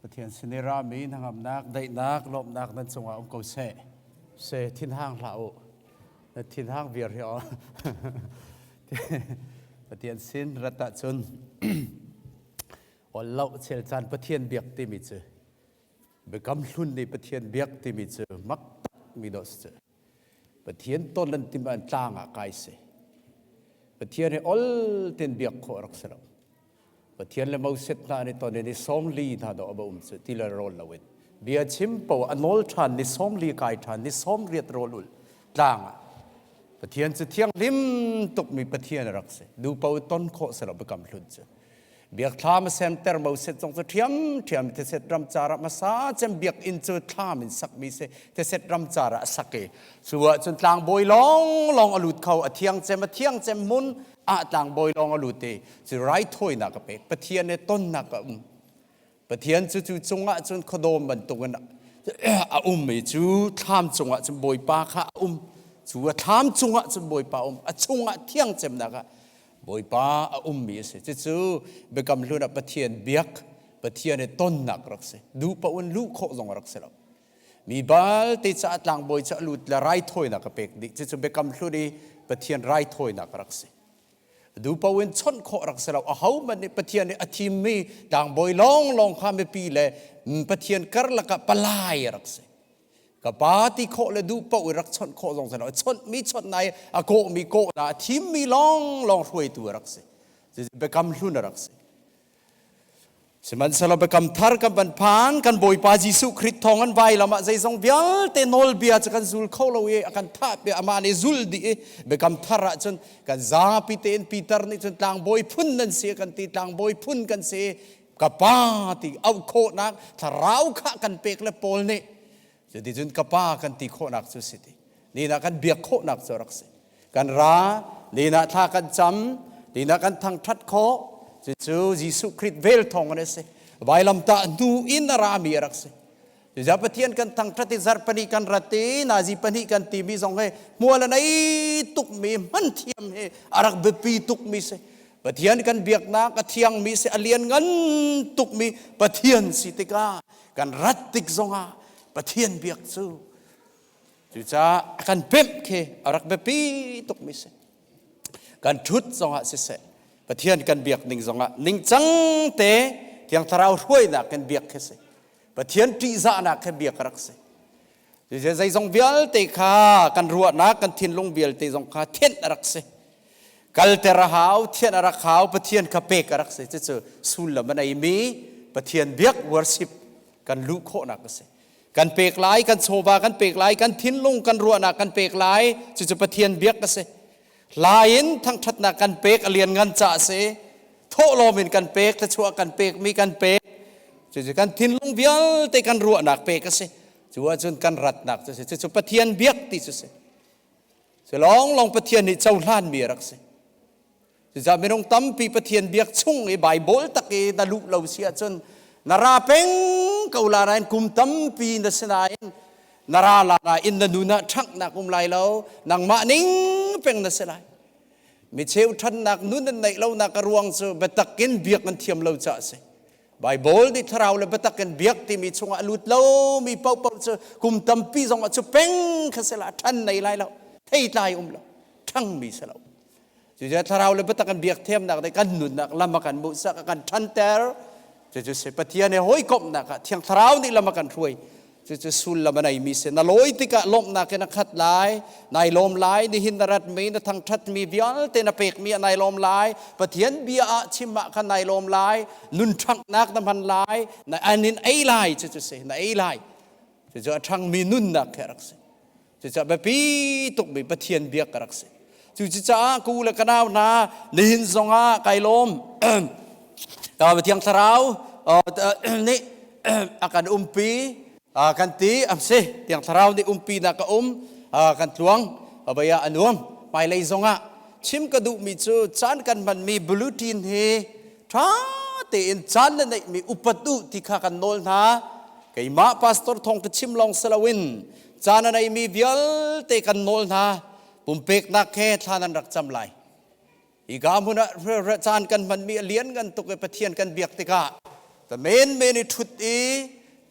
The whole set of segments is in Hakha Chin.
Pathian sin i rami hnangamnak, daihnak, lawmhnak nan cungah um ko seh. Se thinhang hlah u. Na thinhang viar hi aw. Pathian sin rat ah cun ol lo chel caan Pathian biak timi cu biakam hlun nih Pathian biak timi cu mak mi dawh si cu. Pathian ton an tim an tlang ah kai si. Pathian he ol ten biak kho rak si lo. Pathian le Moses hna ni ton ni song li hna do aba um cu ti le rol lo in. Bia chim po anol than ni song li kai than ni song riat rol ul tlang ah. Pathian cu thiang lim tuk mi Pathian rak si. Nu po ton kho si lo bekam hlun cu. biak thlam sem ter bo set zong cu ṭhiamṭhiam te set ram cara hmasa cem biak inn cu thlam in sakmi se te set ram cara a sak i cu ah cun tlangbawi long long a lut kho a thiang cem a thiang cem mun a tlangbawi long a lut i cu rai thawinak a pek pathian ne tonnak a um Pathian cu cu cungah cun khuadawm bantukin a um i cu thlam cungah cun Bawipa kha a um cu a thlam cungah cun Bawipa a um a chungah thiang cemnak ah Bawipa a ummi a si cucu Biakam Hlun ah Pathian biak Pathian i tonnak rak si duh paoh in luh khawh zong rak si lo mi balte ca tlangbawi cu a lut le raithawinak a pek dih cucu Biakam Hlun i Pathian raithawinak rak si dupo in chawnh khawh rak si lo ahohmanh nih pathian nih a thimmi tlangbawi lawnglawng kha mipi le pathian karlak ah palai rak si ka pa ti khawh le dupo i rak chawnh khawh zong si lo chawnhmi chawnhnai a kawhmi kawhla a thimmi lawnglawng hruaitu rak si cucu biakam hlun rak si Sihmanhsehlaw biakam thar kan van phan kan Bawipa Jesuh Khrist thawng an vai lam ah zeizong vialte nawlbia cu kan zul kho lo i a kan thah piah amah nih zul dih i biakam thar ah cun kan zapi tein Peter nih cun tlangbawi phun nan si kan ti tlangbawi phun kan si ka pa ti auh khawhnak thlarau kha kan pek le Paul nih Cuticun ka pa kan ti khawhnak cu si ti. Lin ah kan biak khawhnak cu rak si. Kan ra, lin ah thla kan cam, lin ah kan thangṭhat khawh. Cucu Jesuh Khrih vel thawngin a si. Vailamtah hnu in a rami a rak si. Cucaah Pathian kan thangṭhat i zarh pahnih kan rat i nazi pahnih kan timi zong he hmual a nei tukmi hmanthiam he a rak biapi tukmi si. Pathian kan biaknak a thiangmi si, a lian ngan tukmi Pathian si tikah kan rat tik zongah Pathian biak cu cucaah a kan pemh khi a rak biapi tukmi si kan ṭhut zongah siseh Pathian kan biak ning zongah ningcang te Thiang Thlarau hruainak kan biak khi si Pathian ṭihzahnak khi biak rak si Cucu zeizong vialte kha kan ruahnak kan thinlung vialte zong kha thianh a rak si. Kalter a hau, thianh a rak hau, Pathian kha pek a rak si. Cucu sullam a neimi Pathian biak worship kan luh khawhnak a si. Kan pek lai, kan chawva kan pek lai, kan thinlung kan ruahnak kan pek lai. Cucu Pathian biak a si. Hla in thangṭhatnak kan pek a lianngan ca a si. Thawhlawm in kan pek, thluachuah kan pekmi kan pek. Cucu kan thinlung vialte kan ruahnak pek a si. Cu ahcun kan ratnak cu a si. Cucu Pathian biak ti cu a si. Cu lawnglawng Pathian nih cohlanmi a rak si. Cucaah minung tampi Pathian biak chung i Baibal tak i na luh lo si ahcun na ra peng ko la nain kum tampi na si nain na ra la nain na nun ah ṭhanghnak um lai lo. Nangmah ning peng na si lai. Mi cheu ṭhannak nun an neih lonak a ruang cu biatak in biak an thiam lo caah a si. Baibal nih thlarau le biatak in biak timi chungah a lut lomi paohpaoh cu kum tampi zongah cu peng kha si la ṭhan nei lai lo theitlai um lo ṭhangmi si lo cucu thlarau le biatak in biak thiamnak dei kan nunnak lam a kan muhsak a kan ṭhanter cucu si Pathian he hawikomhnak ah thiang thlarau nih lam a kan hruai Cucu sullam a neimi a si. Na lawi tikah lawmhnak in a khat lai. Nai lawm lai, nihin na ratmi, na thangṭhatmi vialte na pekmi ah nai lawm lai. Pathian bia ah chim ah khan nai lawm lai. Nunṭhanghnak na hman lai. Na an in ei lai, cucu si. Na ei lai. Cucu a ṭhangmi nunnak khi a rak si. Cucaah biapi tukmi Pathian biak ka rak si. Cucaah ku le ka nau hna nihin zongah kai lawm. Thiang Thlarau nih a kan umpi kan ti am si. Thiang Thlarau nih umpinak ka um kan tluang baya a nuam. Hmailei zongah chim ka duhmi cu caan kan hmanmi bulletin hi ṭha tein caan na neihmi upat u ti kha kan nawl hna. Keimah pastor thawng ka chim lawng si loin caan a neimi vialte kan nawl hna pumpeknak he thla nan rak cam lai hi ga hmun ah caan kan hmanmi a lian ngan tuk i pathian kan biak tikah ta men men i thut i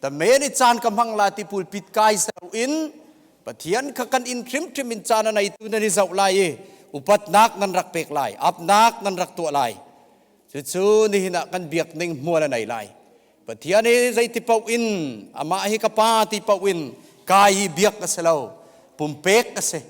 ta men i caan ka hmang la ti pulpit kai ser in pathian kha kan in hrimhrim in caan a neitu nan i zoh lai i upatnak nan rak pek lai apnak nan rak tuah lai cucu nihin ah kan biak ning hmual a nei lai Pathian hi zeiti paoh in amah hi ka pa ti paoh in kai hi biak a si lo pumpek a si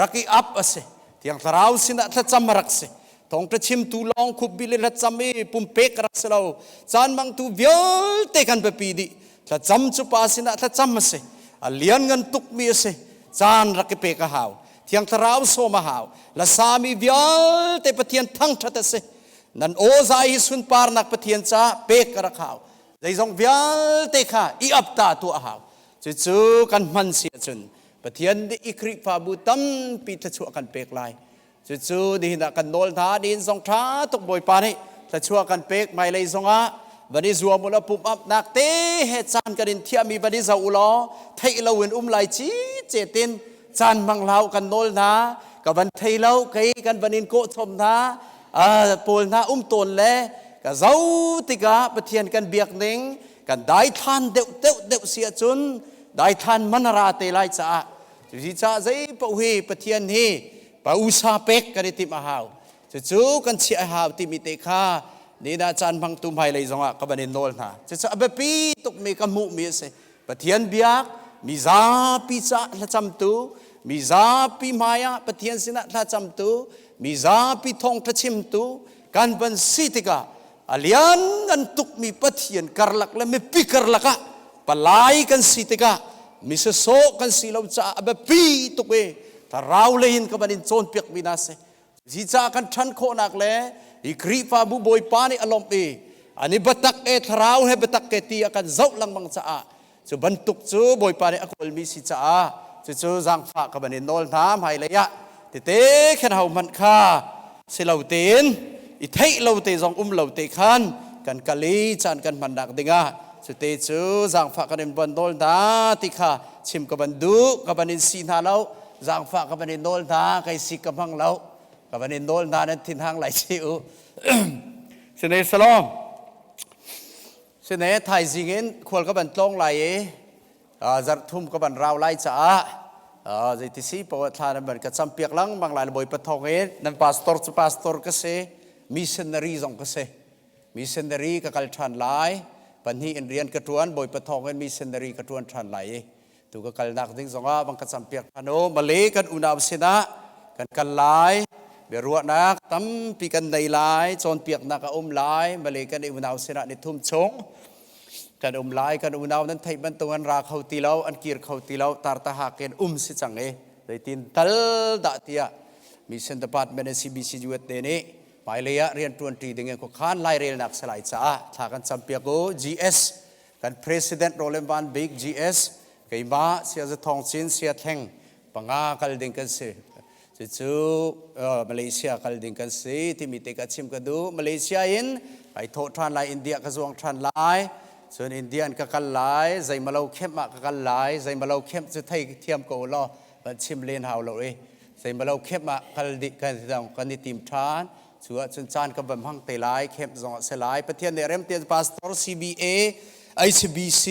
rak i ap a si tiang thlarau sinah thlacam a rak si thongṭa chimtu lawng khupbi le hlacam i pumpek rak si lo caan mangtu vialte kan biapi dih thlacam cu pa sinah thlacam a si a lian ngan tukmi a si caan rak i pek a hau thiang thlarau sawm a hau lasami vialte pathian thangṭhat a si nan awza i sunparnak Pathian ca pek ka rak hau zeizong vialte kha i apta tuah a hau cucu kan hman si ahcun Pathian nih i Khrihfabu tampi thluachuah kan pek lai cucu nihin ah kan nawl hna nihin zong ṭha tuk Bawipa nih thluachuah kan pek hmailei zongah van i zuam u law pumapnak te he caan kan in thiahmi van i zoh u law theih loin um lai cice tein caan hmang hlau kan nawl hna ka van thei lo kei kan van in kawh chom hna pawl hna um tawn le ka zau tikah pathian kan biak ning kan daithlan deuh deuh deuh si ahcun daithlan manara te lai caah cusi caah zei pa hi pathian hi pa usa pek kan i tim a hau cucu kan chiah a hau timi te kha nina caan hmang tu hmailei zongah ka van in nawl hna cucu a biapi tukmi ka hmuhmi a si Pathian biak mizapi caah hlacamtu mizapi hmaiah Pathian sinah thlacamtu mizapi thawngṭha chimtu kan van si tikah a lian an tukmi Pathian karlak le mipi karlak ah palai kan si tikah misasawh kan si lo caah a biapi tuk i thlarau lei in ka van in cawnpiakmi hna a si Zica kan ṭhan khawhnak le hi Khrihfabu Bawipa nih a lawmh i an i biatak e thlarau he biatak ke ti a kan zoh lengmang caah cu bantuk cu Bawipa nih a kawlmi si caah cucu zaangfah ka van in nawl hna hmailei ah tete khin hohmanh kha si lo tein i theih lo te zong um lo te khan kan kal i caan kan hmannak dingah cute cu zaangfah kan in van nawl hna ti kha chim ka van duh ka van in si hna lo Zaangfah ka van in nawl hna, kai si ka hmang lo. Ka van in nawl hna, nan thinhang lai ci u. Sine salawm. Sine thaizing in khual ka van tlawng lai i zarhthum ka van rau lai caah zeiti si paoh ah thla nan van ka campiak lengmang lai. Bawipa thawng in nan pastor cu pastor ka si, missionary zong ka si. Missionary ka kal ṭhan lai. Pahnih in rian ka ṭuan, Bawipa thawng in missionary ka ṭuan ṭhan lai i tu ka kalnak ding zongah bang ka campiak an o male kan unau sinah kan kal lai biaruahnak tampi kan nei lai cawnpiaknak a um lai male kan unau sinah ni thum chung kan um lai kan unau nan theih bantuk an ra kho ti lo an kir kho ti lo tartaha ken um si chang e zeitin tal da tia mission department CBC UT te nih hmailei ah rian tuan ṭi ding in khuakhan lai relnak salai caah thla kan campiak u GS Kan President Roland Van Bik GS, keima Siaza Thawng Cin Sia Theng panga kal ding kan si. Cucu Malaysia kal ding kan si timi te ka chim ka duh. Malaysia in kai thawh ṭhan lai, India ka zuang ṭhan lai. Cun India in ka kal lai, zeimalo kemp ah ka kal lai, zeimalo kemp cu thei thiam ko law, van chim len hau lo i, zeimalo kemp ah kal dih kan, kan i tim ṭhan. Cu ahcun caan ka va hmang te lai, camp zong a si lai. Pathian nih remten pastor CBA, HBC,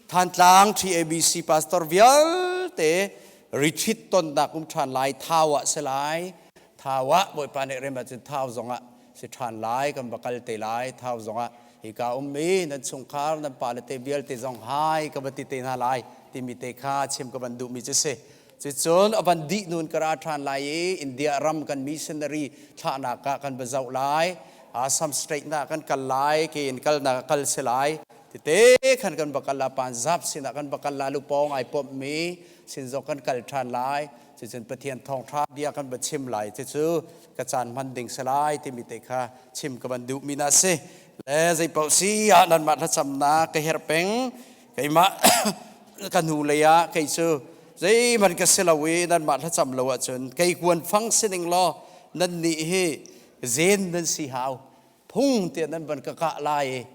Thantlang TABC pastor vialte retreat tonnak um ṭhan lai. Thau ah si lai. Thau ah Bawipa nih rem ahcun Thau zong ah si ṭhan lai. Kan va kal te lai. Thau zong ah hika um i nan chungkhar, nan pale te vialte zong hai ka va ti te hna lai timi te kha chim ka van duhmi cu si. Cicun a van dih nun ka ra ṭhan lai i India ram kan missionary thlahnak ah kan va zoh lai. Assam straightnak kan kal lai, kein kalnak kal si lai. Tete khan kan va kal a Punjab sinah kan va kal lai, lupawng ai pommi sinzok kan kal ṭhan lai. Cicun Pathian thawngṭha bia kan va chim lai, cucu ka caan hman ding si lai timi te kha chim ka van duhmi na a si. Le zeipaoh si ah nanmah thlacamnak ka herh peng. keimah ka hnu lei ah kei cu zeihman ka si lo i nanmah thlacam lo ahcun kei kuan fang si ning law nannih hi zen nan si hau phung tiah nan van ka kah lai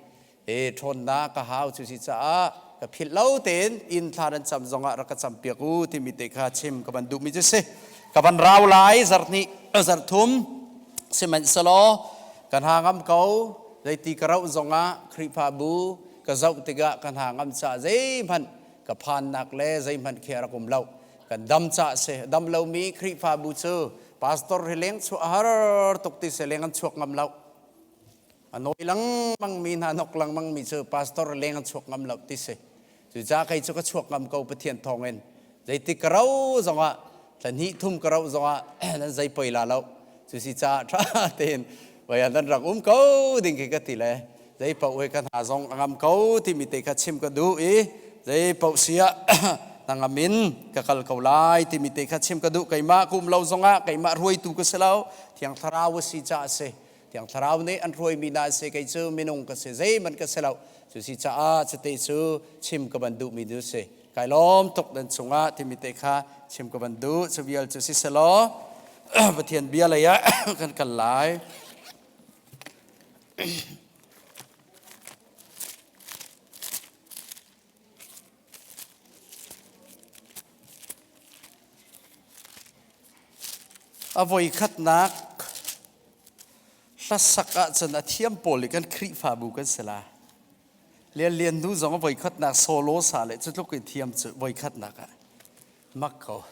i ṭhawnnak ka hau cu si caah ka philh lo tein inn thla nan cam zongah rak ka campiak u timi te kha chim ka van duhmi cu si ka van rau lai zarh hnih zarh thum sihmanhsehlaw kan ha ngam ko zeiti ka rauh zongah Khrihfabu Ka zoh tikah ka hna ngam caah zeihmanh ka phannak le zeihmanh khi a rak um lo. Kan dam caah a si. Dam lomi Khrihfabu cu pastor hi leng chuah a har tuk ti si leng an chuak ngam lo. A nawi lengmangmi hna nok lengmangmi cu pastor leng an chuak ngam lo ti si. Cucaah kei cu ka chuak ngam ko Pathian thawngin. Zeitik ka rauh zongah, thla hnih thum ka rauh zongah nan zei poi la lo. Cusi caah ṭha tein voi ah nan rak um ko ding khi ka ti le zei paoh he kan ha zong a ngam ko timi te kha chim ka duh i zei paoh si ah na ngam in ka kal ko lai timi te kha chim ka duh keimah ka um lo zongah keimah ruaitu ka si lo thiang thlarau a si caah a si Thiang Thlarau nih an hruaimi hna an si, kei cu minung ka si, zeihmanh ka si lo. Cu si caah chite cu chim ka van duhmi nu si. Kai lawm tuk nan chungah timi te kha chim ka van duh. Cu vial cu si selaw Pathian bia lei ah kan kal lai. A voikhatnak hlasak ahcun a thiam pawl i kan Khrihfabu kan si la. Lian Lian hnu zong a voikhatnak solo sa le cu tluk in thiam cu voikhatnak ah. mak ko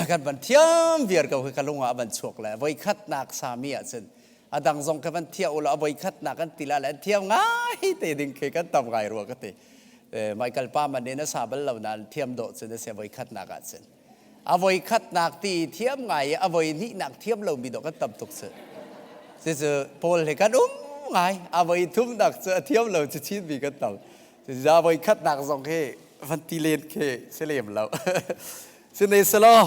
kan van thiam viar ko ka lung ah a van chuak le voi khatnak sami ah cun a dang zong ka van thiah ula a voi khatnak an ti la le an thiam ngai te ding khi kan tam ngai rua ka ti mai kal pa man in a sa bal lo nan thiam do cun a se voi khatnak ah cun a voi khatnak ti thiam ngai a voi hnih nak thiam lo mi do kan tam tuk cu si cu paul he kan um ngai a voi thum nak cu a thiam lo cu chin mi kan tam Cucaah voikhatnak zong hi van ti len khi si lem lo. Sine selaw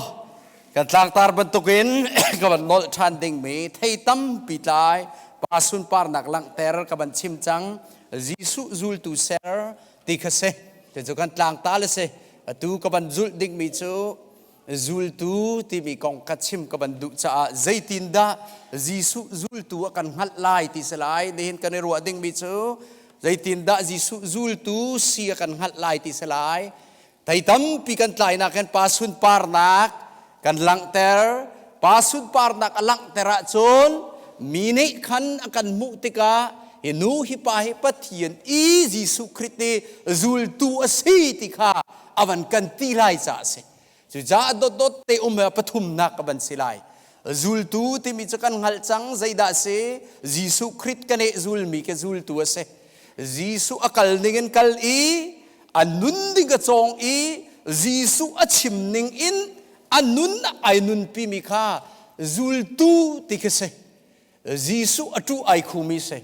kan tlangtar bantuk in ka van nolh ṭhan dingmi thei tampi tlai pa sunparnak langhter ka van chim cang. Jesuh zultu ser ti kha si. Ti cu kan tlangta le si. Atu ka van zulh dingmi cu zultu timi kong ka chim ka van duh caah zeitindah Jesuh zultu a kan hngalh lai ti si lai nihin kan i ruah dingmi cu zeitindah Jesuh zultu si a kan hngalh lai ti si lai thei tampi kan tlainak hin pa sunparnak kan langhter pa sunparnak a langhter ahcun mi nih khan a kan hmuh tikah hi nu hi pa hi Pathian i Jesuh Khrist i zultu a si ti kha a van kan ti lai caah a si cucaah dotdot te um pathumnak ka van si lai zultu timi cu kan hngalh cang zeidah si Jesuh Krit kan eh zulmi ke zultu a si Jesuh a kal ning in kal i a nun ding a cawng i Jesuh a chim ning in a nun ai nunpimi kha zultu ti khi si Jesuh a ṭuh ai khumi a si.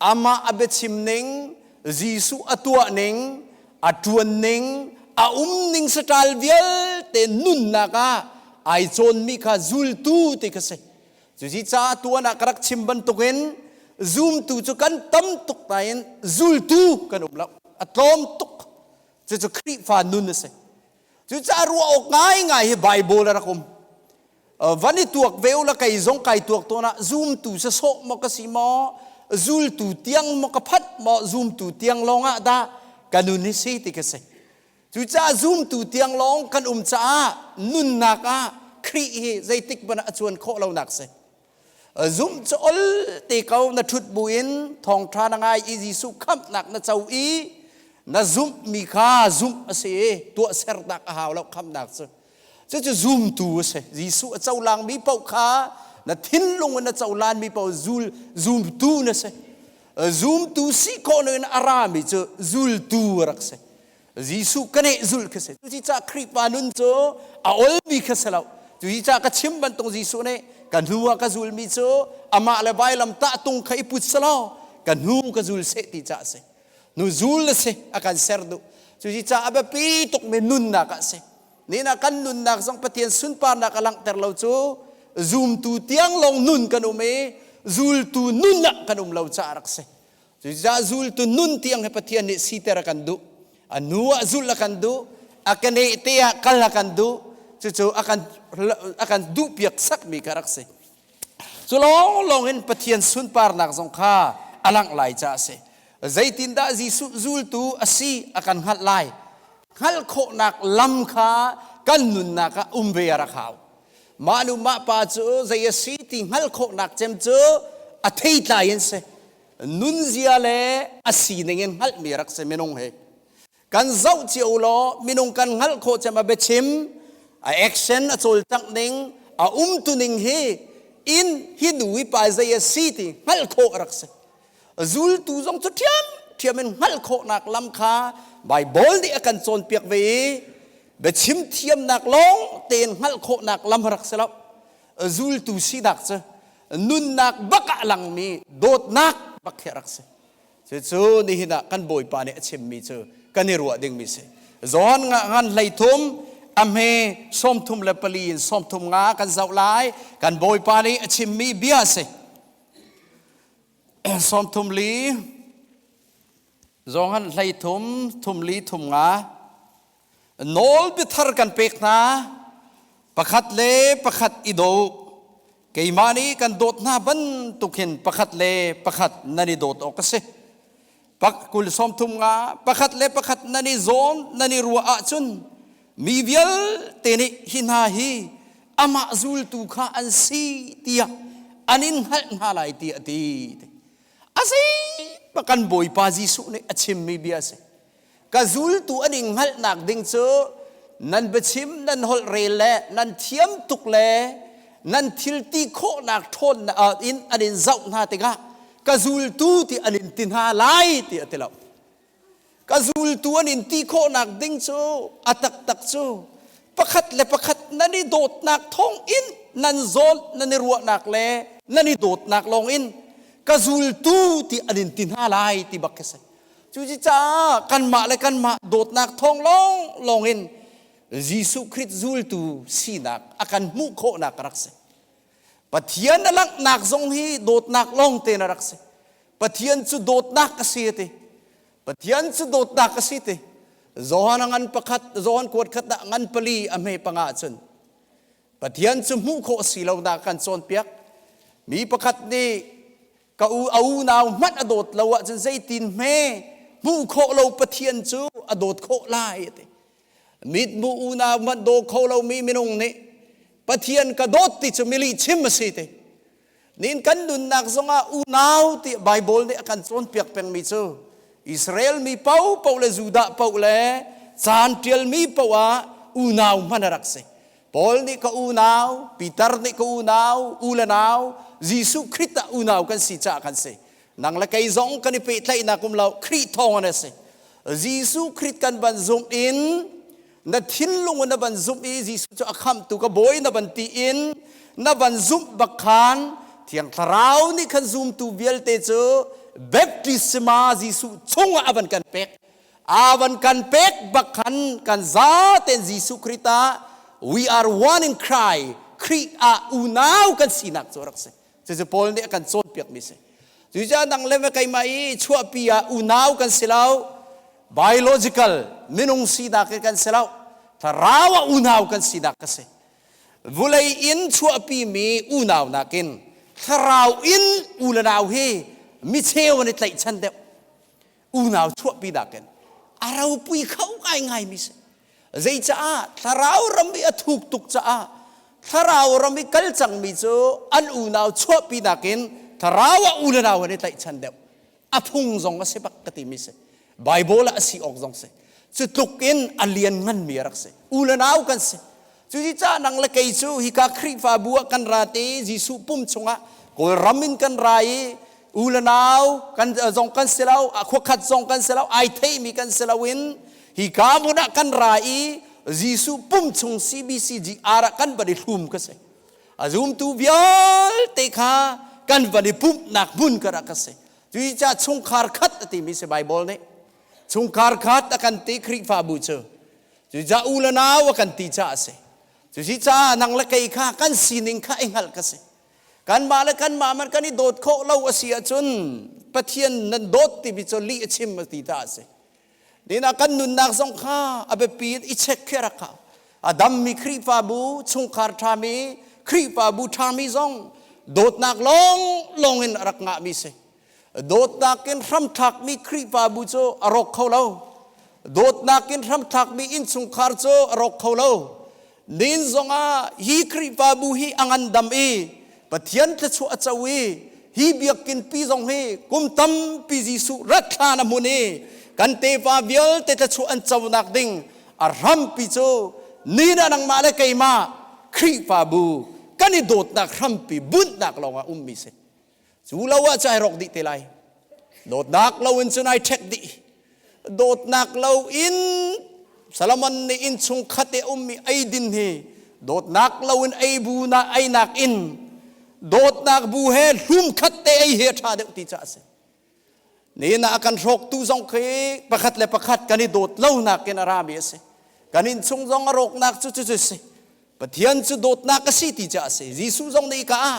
Amah a biachim ning, Jesuh a tuah ning, a ṭuan ning, a um ning saṭal vialte nunnak ah ai cawnmi kha zultu ti ka si. Cucu caah tuan ah ka rak chim bantukin zumtu cu kan tam tuk nain zultu kan um lo. A tlawm tuk. Cucu Khrihfa nun a si. Cucaah ruah awk ngaingai hi Baibal a rak um. van i tuak ve u la kei zong kai tuak tawn ah zumtu se sawh maw ka si maw zultu tiang maw ka phat maw zumtu tiang lawng ah dah ka nun hi si ti ka si cucaah zumtu tiang lawng kan um caah nunnak ah Khrih hi zeitik man a cuan khawh lonak si zumh cu ol te ko na ṭhut bu in thawngṭha na ngai i Jesuh khamhnak na co i na zumh mi kha zumh a si i tuah sernak a hau lo khamhnak cu cucu zumtu a si Jesuh a colang mi paoh kha na thinlung in a colan mi paoh zul zumtu na si zumtu si khawh loin a ra mi cu zultu a rak si Jesuh ka neh zul kha si tuci ca Khrihfa nun cu a olmi kha si lo tuci ca ka chim bantuk Jesuh nih ka hnu ah ka zulmi cu amah le vailam tah tung kha i put selaw ka hnu ka zul seh ti ca a si nu zul a si a kan ser duh cuci ca a biapi tukmi nunnak a si nihna kan nunnak zong Pathian sunparnak a langhter lo cu zumtu tiang lawng nun kan um i zultu nun ah kan um lo caah rak si Cucaah zultu nun tiang he Pathian nih siter a kan duh. A nu ah zulh a kan duh. A keneh te ah kal a kan duh. Cucu a kan a kan duh piak sakmi ka rak si. Cu lawng lawng in Pathian sunparnak zong kha a langh lai ca a si. Zeitindah Jesuh zultu a si a kan hngalh lai? Hngalh khawhnak lam kha kan nunnak ah um ve a rak hau. Mah nu mah pa cu zei a si ti hngalh khawhnak cem cu a theitlai in si. Nunzia le a sining in hngalhmi rak si minung hi. Kan zoh cio law minung kan hngalh khawh cem a biachim, a action a cawlcangh ning, a umtuning hi in hi nu hi pa zei a si ti hngalh khawh rak si. zultu zong cu ṭhiamṭhiam in hngalh khawhnak lam kha Baibal nih a kan cawnpiak ve i biachim thiamnak lawng tein hngalh khawhnak lam rak si lo zultu sinak cu nunnak bak ah langmi dawtnak bak khi rak si cucu nihin ah kan bawipa nih a chimmi cu kan i ruah dingmi si John nga ngan hlei thum a hme sawmthum le pali in sawmthum nga kan zoh lai kan bawipa nih a chimmi bia si sawmthum li Johan hlei thum thum li thum nga nawl bithar kan pek hna pakhat le pakhat i do keimah nih kan dawt hna bantuk hin pakhat le pakhat nan i dawt awk ka si pak kul sawmthum nga pakhat le pakhat nan i zawm nan i ruah ahcun mi vialte nih hi hna hi amah zultu kha an si tiah an in hngalh hna lai ti a ti a si kan bawipa jesuh nih a chimmi bia a si ka zultu an in hngalhnak ding cu nan biachim nan holh rel le nan thiam tuk le nan thilti khawhnak ṭhawn in an in zoh hna tikah ka zultu ti an in ti hna lai ti a ti lo ka zultu an in ti khawhnak ding cu a taktak cu pakhat le pakhat nan i dawtnak thawng in nan zawn nan i ruahnak le nan i dawtnak lawng in ka zultu ti an in ti hna lai ti bak khi si Cuci caah kanmah le kanmah dawtnak thawng lawnglawng in Jesuh Krit zultu sinak a kan hmuh khawhnak rak si. Pathian na langhnak zong hi dawtnak lawngte na rak si. Pathian cu dawtnak ka si a ti. Pathian cu dawtnak ka si ti. Johan a ngan pakhat, Johan kuat khat ah ngan pali a hme panga cun Pathian cu hmuh khawh si lonak kan cawnpiak. Mi pakhat nih ka u a unau hmanh a dawt lo ahcun zeitin hme hmuh khawh lo pathian cu a dawt khawh lai ti mithmuh unau hmanh daw kho lomi minung nih pathian ka dawt ti cu milihchim a si ti nin kan nunnak zongah unau ti bible nih a kan cawnpiak pengmi cu Israel mi popo le Judah po le caan tialmi po ah unau hman a rak si Paul nih ka unau, Peter nih ka unau, u le nau, Jesuh Khrih ah unau kan si caah kan si. Nang le kei zong kan i pehtlaihnak um lo, Khrih thawng in a si. Jesuh Khrih kan van zumh in na thinlung in na van zumh i Jesuh cu a khamtu ka bawi na van ti in na van zumh bak khan Thiang Thlarau nih khan zumtu vialte cu baptisma Jesuh chungah a van kan pek. a van kan pek bak khan kan za ten Jesuh Khrist ah we are one in Christ Khrih ah unau kan sinak cu rak si cucu Paul nih a kan cawnpiakmi si cucaah nang le keimah i chuahpi ah unau kan si lo biological minung sinak hi kan si lo thlarau ah unau kan sinak ka si vulei in chuahpimi unau nakin thlarau in u le nau hi micheu an i tlaihchan deuh unau chuahpinak in a ropui kho ngaingaimi si. Zeicah? Thlarau ram i a thuk tuk caah thlarau ram i kal cangmi cu an unau chuahpinak in thlarau ah unau an i tlaihchan deuh. A phung zong a si bak ka timi si. Baibal ah a si awk zong si. Cu tluk in a liannganmi a rak si. Unau kan si. Cuti cah nang le kei cu hika Khrihfabu ah kan ra te i Jesuh pum chungah Kawlram in kan ra i u le nau kan zong kan si lo khuakhat zong kan si lo ai theimi kan si loin hika hmun ah kan ra i Jesuh pum chung CBCGR ah kan van i thlum ka si a zumtu vialte kha kan van i pumhnak hmun ka rak ka si cuti cah chungkhar khat a timi si Bible nih chungkhar khat a kan ti Khrihfabu cu Cu ca u le nau a kan ti caah a si. Cu si caah nang le kei kha kan sining kha i hngalh ka si. Kanmah le kanmah man kan i dawt khawh lo a si ahcun Pathian nan dawt timi cu lih a chim a ti ta a si. Nihin ah kan nunnak zong kha a biapi in i check khi a rak hau. A dammi Khrihfabu, chungkhar ṭhami, Khrihfabu ṭhami zong dawtnak lawnglawng in a rak ngahmi si. dawtnak in hramthlakmi Khrihfabu cu a rawk kho lo. Dawtnak in hramthlakmi innchungkhar cu a rawk kho lo. Nin zongah hi Khrihfabu hi a ngandam i Pathian thluachuah a co i hi biakinpi zong hi kum tampi Jesuh rat hlan a hmun i kan tefa vialte thluachuah an conak ding a hrampi cu nina nangmah le keimah Khrihfabu kan i dawtnak hrampi bunhnak lawngah ummi si. cu lo ah cun ai rawk dih te lai dawtnak lo in cun ai ṭhek dih dawtnak lo in Solomon nih innchung khat i ummi eidin hi dawtnak lo in ei bu na einak in dawtnak bu he hlum khat te ei hi a ṭha deuh ti caah a si Nihin ah kan hrawktu zong khi pakhat le pakhat kan i dawt lonak in a rami a si. Kan innchung zong a rawknak cu cucu a si. Pathian cu dawtnak a si ti cu a si. Jesuh zong nih ka ah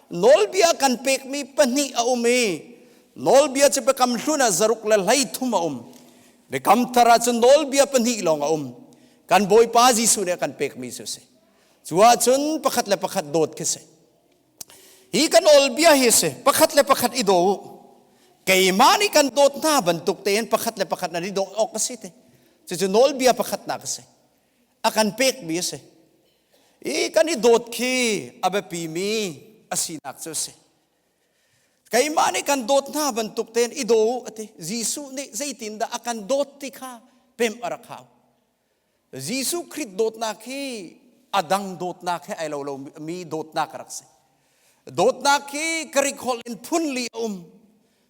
nawlbia kan pekmi pahnih a um i nawlbia cu Biakam hlun ah zaruk le hleithum a um. Biakam thar ah cun nawlbia pahnih lawng a um. Kan Bawipa Jesuh nih a kan pekmi cu a si. Cu ahcun pakhat le pakhat dawt khi si. hi kan olbia hi si pakhat le pakhat i daw keimah nih kan dawt hna bantuk tein pakhat le pakhat nan i dawt awk a si te cucu nawlbia pakhatnak a si a kan pekmi a si i kan i dawt khi a biapimi a sinak cu a si keimah nih kan dawt hna bantuk tein i daw a ti jesuh nih zeitindah a kan dawt ti kha pem a rak hau Jesuh Khrih dawtnak hi a dang dawtnak he ai lo lomi dawtnak rak si. Dawtnak hi Greek holh in phunli a um.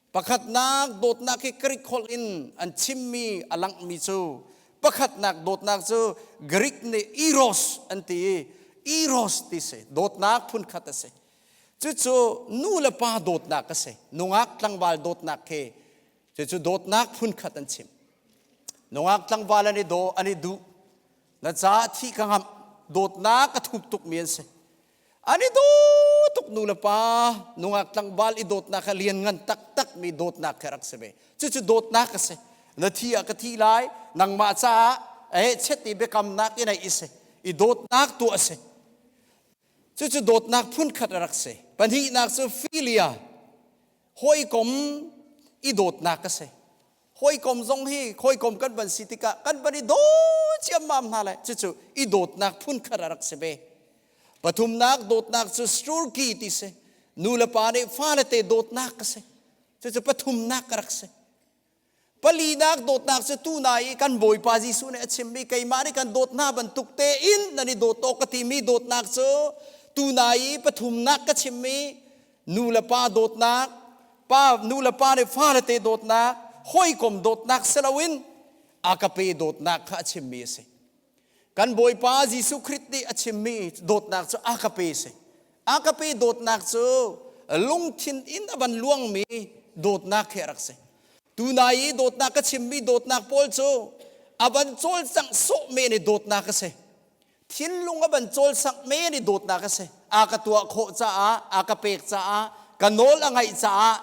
Pakhatnak dawtnak hi Greek holh in an chimmi, a langhmi cu pakhatnak dawtnak cu Greek nih eros an ti i eros ti si. Dawtnak phunkhat a si. Cucu nu le pa dawtnak a si. Nungak tlangval dawtnak he Cucu dawtnak hmunkhat an chim. Nungak tlangval an i daw an i duh. Na caah thih ka ngamh. Dawtnak a thup tukmi an si. An i daw tuk nu le pa. Nungak tlangval i dawtnak kha lian ngan taktakmi dawtnak kha rak si ve. Cucu dawtnak a si. Na thi ah ka thi lai. Nangmah caah eh chet i biakamnak i neih i si. I dawtnak tuah a si. Cucu dawtnak phunkhat a rak si. Pahnihnak cu filia, hawikom i dawtnak a si. Hawikom zong hi hawikom kan van si tikah kan van i daw ciammam hna le cucu i dawtnak phunkhat a rak si ve. Pathumnak dawtnak cu strurki ti si. Nu le pa nih fale te dawtnak a si. Cucu pathumnak a rak si. palinak dawtnak cu tu na i kan bawipa jesuh nih a chimmi keimah nih kan dawt hna bantuk tein nan i dawt awk ka timi dawtnak cu tu na i pathumnak ka chimmi nulepa dawtnak pa nulepa nih farate dawtnak hawikom dawtnak si loin a kape dawtnak kha a chimmi a si Kan Bawipa Jesuh Khrist nih a chimmi dawtnak cu agape a si. Agape dawtnak cu lungthin in a van luangmi dawtnak khi a rak si. Tunai i dawtnak ka chimmi dawtnak pawl cu a van cawlcangh sawh men i dawtnak a si. Thinlung a van cawlcangh men i dawtnak a si. a ka tuah khawh caah a ka pek caah ka nawl a ngaih caah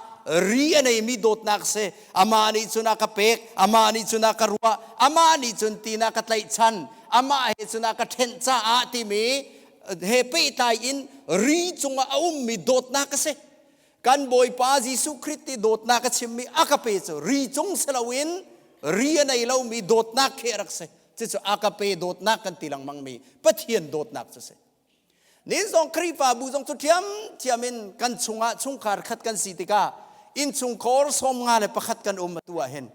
ri a neimi dawtnak si amah nih cun a ka pek amah nih cun a ka ruah amah nih cun tin a ka tlaihchan amah he cun a ka ṭhenh caah timi he pehtlai in ri cungah a ummi dawtnak a si kan bawipa Jesuh Khrist i dawtnak a chimmi a ka pe cu ri cung si loin ri a nei lomi dawtnak khi a rak si cucu a ka pe dawtnak kan ti lengmangmi Pathian dawtnak cu si Nihin zong Khrihfabu zong cu ṭhiamṭhiam in kan chungah chungkhar khat kan si tikah innchungkhar sawm nga le pakhat kan um atu ahhin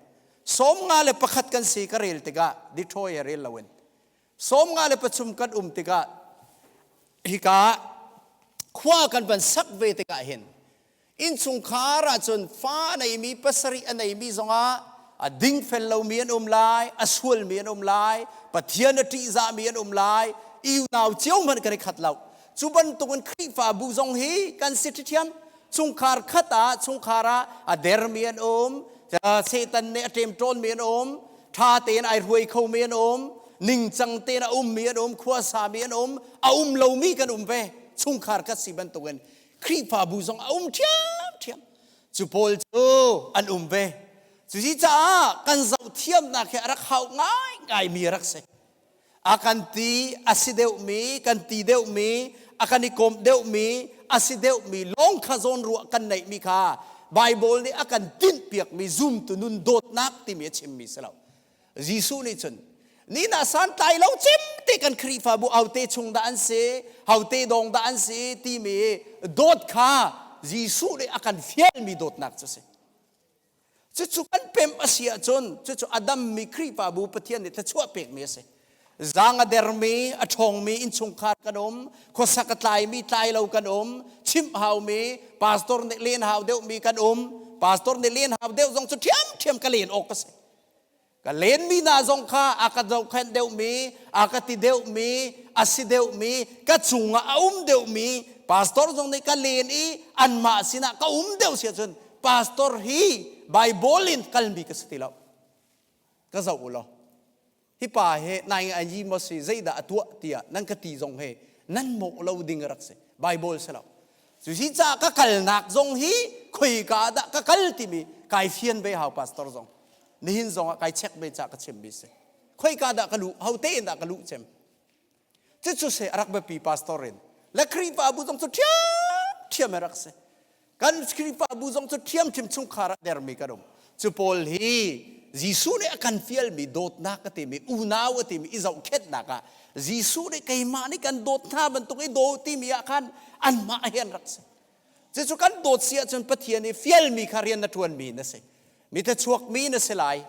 sawm nga le pakhat kan si ka rel tikah dithawi a rel loin sawm nga le pathum kan um tikah hika ah khua kan van sak ve tikah hin innchungkhar ahcun fa a neimi pasarih a neimi zongah a dingfel lomi an um lai a sualmi an um lai pathian a ṭihzahmi an um lai i unau cio hmanh kan i khat lo cu bantukin khrihfabu zong hi kan si ṭhiṭhiam chungkhar khat ah chungkhar ah a dermi an um satan nih a ṭem ṭawnmi an um ṭha tein ai ruai khomi an um ningcang tein a ummi an um khuasami an um a um lomi kan um ve chungkhar khat si bantukin Khrihfabu zong a um ṭhiamṭhiam. Cu pawl cu an um ve. Cusi caah kan zohthiamnak hi a rak hau ngaingaimi a rak si. A kan ti a si deuhmi, kan ti deuhmi, a kan i kawmh deuhmi, a si deuhmi lawng kha zawnruah kan neihmi kha Baibal nih a kan tinhpiakmi zumtu nun dawtnak timi a chimmi si lo. Jesuh nih cun ni na santlai lo cim te kan Khrihfabu haute chung dah an si haute dawng dah an si timi dawt kha Jesuh nih a kan fialmi dawtnak cu a si cucu kan pemh a si ahcun cucu a dammi Khrihfabu Pathian nih thluachuah pekmi a si zang a dermi a ṭhawngmi innchungkhar kan um khuasak a tlaimi tlai lo kan um chimh haumi pastor nih len hau deuhmi kan um pastor nih len hau deuh zong cu ṭhiamṭhiam ka len awk ka si ka lenmi hna zong kha a ka zohkhenh deuhmi a ka ti deuhmi a si deuhmi ka chungah a um deuhmi pastor zong nih ka len i anmah sinah ka um deuh si ahcun pastor hi Bible in kalmi ka si ti lo ka zoh u law hipa he nai a yi maw si zeidah a tuah tiah nan ka ti zong he nan mawh lo ding rak si bible si lo cu si ca ka kalnak zong hi khoika dah ka kal timi kai fian ve hau pastor zong nihin zong ah kai check ve ca ka chim bi si khoika dah ka lu hote in dah ka lu cem Cucu se a rak biapi pastor in le Khrihfabu zong cu ṭhiamṭhiam a rak si. Kan Khrihfabu zong cu ṭhiamṭhiam chungkhar ah dermi kan um. Cu pawl hi Jesuh nih a kan fialmi dawtnak a timi, unau a timi i zohkhenhnak ah Jesuh nih keimah nih kan dawt hna bantuk i daw timi ah khan anmah he an rak si. Cucu kan dawt si ahcun Pathian i fialmi kha rian na ṭuanmi na si. Mithlachuakmi na si lai.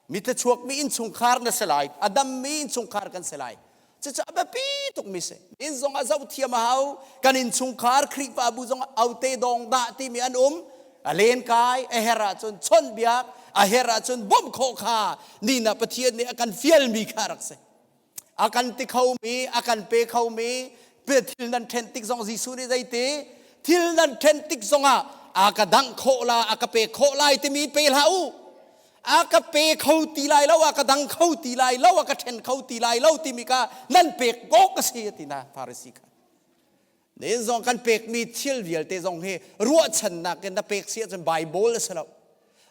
Mithlachuakmi innchungkhar na si lai. A dammi innchungkhar kan si lai. Cucu a biapi tukmi si. Inn zongah zoh thiam a hau. Kan innchungkhar Khrihfabu zongah aute dawng dah timi an um. A len kai, a her ahcun chawnhbiak, a her ahcun bawmh khawh kha nihna Pathian nih a kan fialmi kha rak si. a kan ti khomi a kan pe khomi thil nan ṭhen tik zong Jesuh nih zeiti thil nan ṭhen tik zongah a ka dangh khawh la a ka pek khawh lai timi pe hlah u a ka pe kho ti lai lo a ka dang kho ti lai lo a ka ṭhen kho ti lai lo timi ka nan pek awk a si a ti na Farisi kha Na inn zong kan pekmi thil vialte zong hi ruahchannak in na pek si ahcun Baibal a si lo.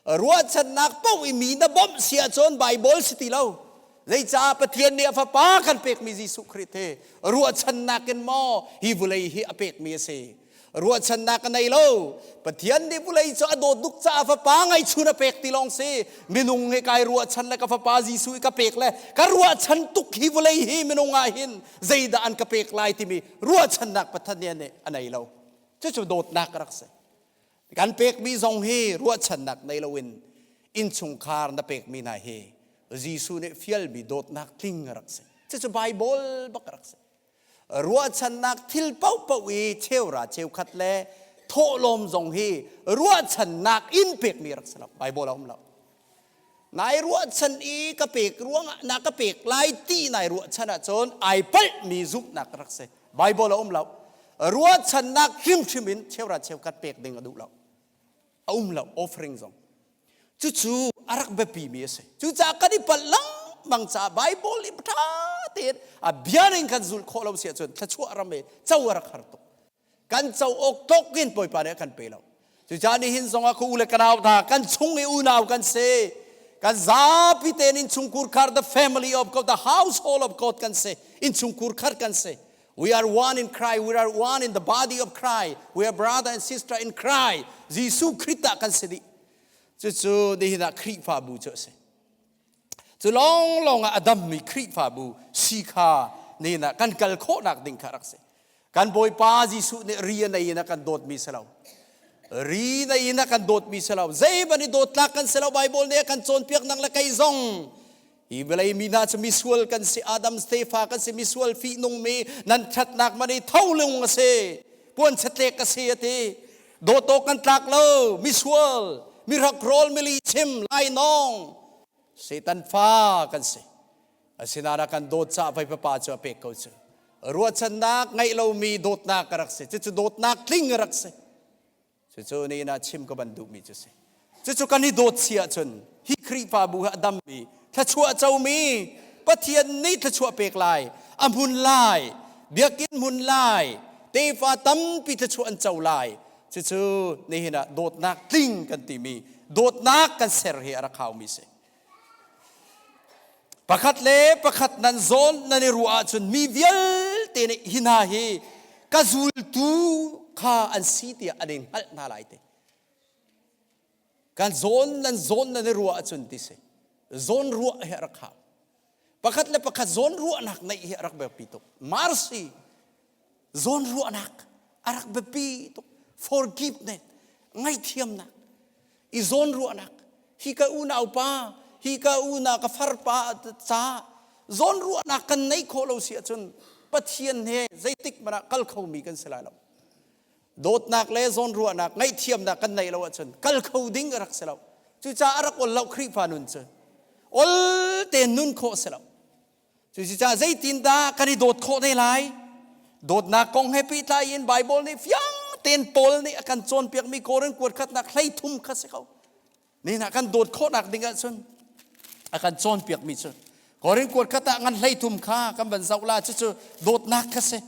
Ruahchannak paoh i mi na bawmh si ahcun Baibal si ti lo. Zeicah Pathian nih a Fapa kan pekmi Jesuh Khrih hi ruahchannak in maw hi vulei hi a pekmi a si? Ruahchannak a nei lo. Pathian nih vulei cu a dawt tuk caah Fapa ngaihchun a pek ti lawng si. Minung hi kai ruahchan le ka Fapa Jesuh i ka pek le ka ruahchan tuk hi vulei hi minung ah hin zeidah an ka pek lai timi ruahchannak pathan nih a nei lo cucu dawtnak rak si kan pekmi zong hi ruahchannak nei loin innchungkhar na pekmi hna hi Jesuh nih fialmi dawtnak tling rak si cucu Bible bak rak si ruahchannak thil paohpaoh i cheura cheukhat le thawhlawm zong hi ruahchannak in pekmi rak si lo Bible a um lo Nai ruahchan i ka pek ruangah na ka pek lai ti nai ruahchan ahcun ai palhmi zumhnak rak si. Bible a um lo. Ruahchannak hrimhrim in cheurat cheukhat pek ding a duh lo. A um lo offering zong. Cucu a rak biapimi a si. Cucaah kan i palh lengmang caah Bible i ṭha tein a bia in kan zulh khawh lo si ahcun thluachuah ram e co a rak har tuk. kan co-awk tlok in Bawipa nih a kan pe lo. Cucaah nihin zongah ka u le ka nau tha, kan chung i unau kan si. Kan zapi tein innchungkhur khar, the family of God, the household of God kan si. Innchungkhur khar kan si. We are one in Christ. We are one in the body of Christ. We are brother and sister in Christ. Jesuh Christ ah kan si dih. Cucu nihin ah Khrihfabu cu a si. Cu lawnglawng ah a dammi Khrihfabu si kha nena kan kal khawhnak ding kha rak si. Kan Bawipa Jesuh nih ri a nei in a kan dawtmi si lo. Ri nei in a kan dawtmi si lo. Zeiban i dawtlak kan si lo. Baibal nih a kan cawnpiaknak le kei zong hi vawlei mi hna cu misual kan si. Adam tefa kan si. Misual fihnung mi nan ṭhatnak man hi tholung a si. Puan chetlek a si a ti. dawto kan tlak lo misual mi rakrawl mili chim lainawng setan fa kan si asinain a kan dawt ca vai papa cu a pek ko cu ruahchannak ngeih lomi dawtnak ka rak si cucu dawtnak tling a rak si cucu ni na chim ka ban duhmi cu si Cucu kan i dawt si ahcun hi Khrihfabu hi a dammi, thluachuah comi, Pathian nih thluachuah pek lai, a hmun lai, biakinn hmun lai, tefa tampi thluachuah an co lai. Cucu nihin ah dawtnak tling kan timi, dawtnak kan ser hi a rak haumi si. Pakhat le pakhat nan zawn nan i ruah ahcun mi vialte nih hi hna hi ka zultu kha an si tiah an in hngalh hna lai te. kan zawn nan zawn nan i ruah ahcun ti si zawn ruah hi a rak hau pakhat le pakhat zawn ruahnak neih hi a rak biapi tuk mercy zawn ruahnak a rak biapi tuk forgiveness ngaihthiamnak i zawn ruahnak hi ka unaupa hi ka unau ka farpa ca zawn ruahnak kan nei khawh lo si ahcun pathian he zeitik man ah kal khomi kan si lai lo dawtnak le zawnruahnak ngaihthiamnak kan neih lo ahcun kal kho ding a rak si lo cucaah a rak ol lo Khrihfa nun cu ol tein nun khawh si lo cucaah zeitindah kan i dawt khawh te lai dawtnak kong he pehtlai in Baibal nih fiang tein Paul nih a kan cawnpiakmi Korin kuat khatnak hlei thum kha si ko Nihin ah kan dawt khawhnak ding ahcun a kan cawnpiakmi cu Korin kuat khat ah ngan hlei thum kha kan van zoh la cucu dawtnak kha si.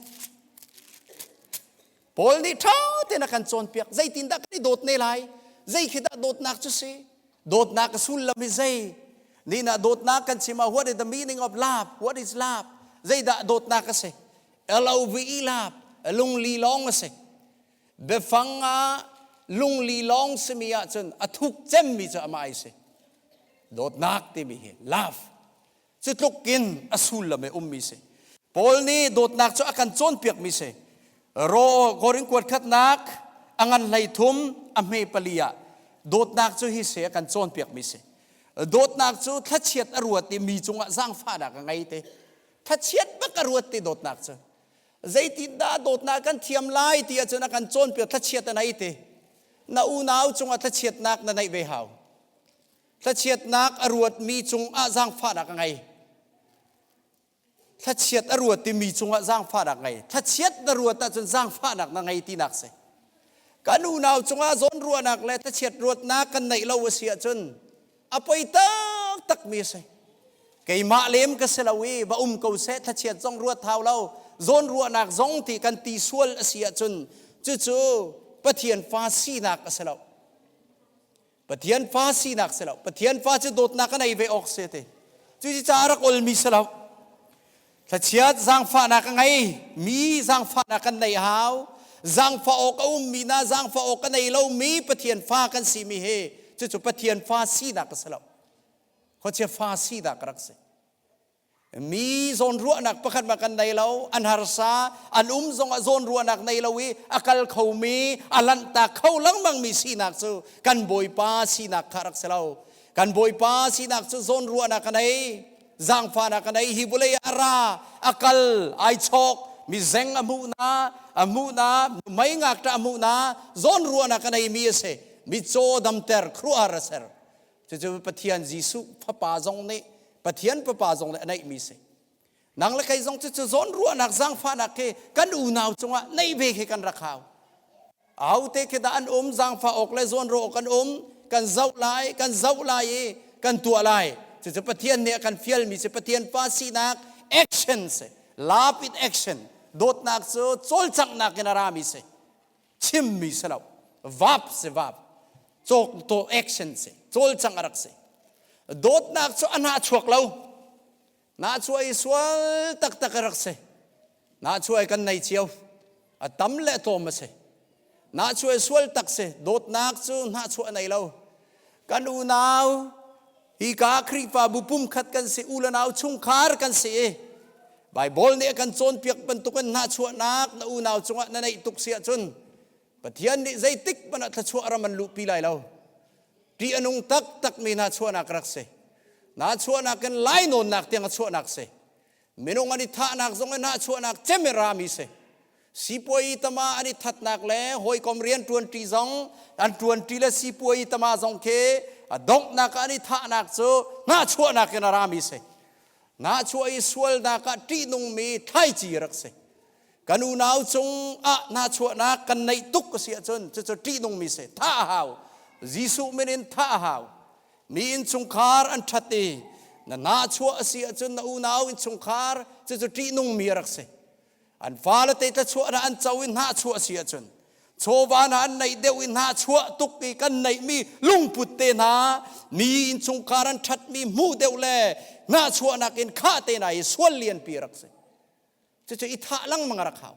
Paul nih ṭha tein a kan cawnpiak zeitindah kan i dawt ne lai zei khi dah dawtnak cu si dawtnak a sullam hi zei nihin ah dawtnak kan chim ah what is the meaning of love what is love zeidah dawtnak a si love love lungli lawng a si biafang ah lungli lawng simi ahcun a thuk cemmi cu amah ai si dawtnak timi hi love cu tlukin a sullam i ummi si paul nih dawtnak cu a kan cawnpiakmi si ro korin kuat khatnak a ngan hlei thum a hme pali ah dawtnak cu hi se a kan cawnpiakmi si dawtnak cu thlachiat a ruat i mi cungah zaangfahnak a ngei te thlachiat bak a ruat ti dawtnak cu zeitindah dawtnak kan thiam lai ti ahcun a kan cawnpiak thlachiat a nei te na unau cungah thlachiatnak na neih ve hau thlachiatnak a ruatmi cungah zaangfahnak a ngei thlachiat a ruat timi cungah zaangfahnak ngei thlachiat na ruat ahcun zaangfahnak na ngei tinak si kan unau cungah zawn ruahnak le thlachiat ruatnak kan neih lo a si ahcun a poi taktakmi a si keimah lem ka si lo i va um ko seh thlachiat zong ruat hau lo zawn ruahnak zong ti kan ti sual a si ahcun cucu pathian fa sinak a si lo pathian fa sinak si lo pathian fa cu dawtnak a nei ve awk si ti cuci ca a rak olmi si lo Thlachiat zangfahnak ka ngei mi zangfahnak kan nei hau zangfah awk a ummi na zangfah awk ka nei lomi Pathian fa kan si mi he cucu Pathian fa sinak ka si lo khuachia fa sinak ka rak si mi zawn ruahnak pakhat ma kan nei lo an harsa an um zong ah zawn ruahnak nei lo i a kal kho mi a lanhta kho lengmang mi sinak cu kan bawipa sinak kha rak si lo kan bawipa sinak cu zawn ruahnak ka nei zangfahnak a nei hi vawlei a ra a kal ai chawk mi zeng a hmuh na a hmuh na mei ngak ta a hmuh na zawn ruahnak a nei mi a si mi caw damter kruahar a ser cucu pathian jesuh fapa zong nih pathian fapa zong nih a neih mi si nang le kei zong cu cu zawn ruahnak zangfahnak khi kan unau cungah nei ve khi kan rak hau Aute khi dah an um zangfa awk le zawnro awk kan um kan zoh lai kan zoh lai i kan tuah lai cucu Pathian nih a kan fialmi cu Pathian pa sinak action si love in action dawtnak cu cawlcanghnak in a rami si chimmi si lo vap si vap cawk to action si cawlcang a rak si dawtnak cu a hnah chuak lo Nahcuai sual taktak a rak si. Nahcuai kan nei cio. A tam le tlawm a si. Nahcuai sual tak si. Dawtnak cu hnahchuah nei lo. Kan unau, hi ka Khrihfabu pumkhat kan si. U le nau chungkhar kan si i, Baibal nih a kan cawnpiak bantukin hnahchuahnak na unau cungah na neih tuk si ahcun, Pathian nih zeitik hmanh ah thluachuah ram an luhpi lai lo. Ṭih a nung taktakmi hna chuahnak rak si. Hna chuahnak in lainawnnak tiang a chuahnak si. Minung an i thahnak zong in hna chuahnak cem in rami si. Sipuai tama an i thatnak le hawikom rianṭuanṭi zong, an ṭuanṭi le sipuai tama zong khi a donghnak ah an i thahnak cu hna chuahnak in a rami si. Hna chuah i sualnak ah ṭihnungmi thlaici rak si. kan unau cung ah hnachuahnak kan neih tuk a si ahcun cucu ṭihnungmi si thah a hau Jesuh min in thah a hau mi innchungkhar an ṭhat i na nahchuah a si ahcun na unau innchungkhar cucu ṭihnungmi a rak si an fale te thlachuahnak an co i hnahchuah a si ahcun chawva hna an neih deuh i hnahchuah tuk i kan neihmi lungput te hna mi innchungkhar an ṭhatmi hmuh deuh le hnahchuahnak in khah te hna i sual lianpi rak si cucu i thah lengmang a rak hau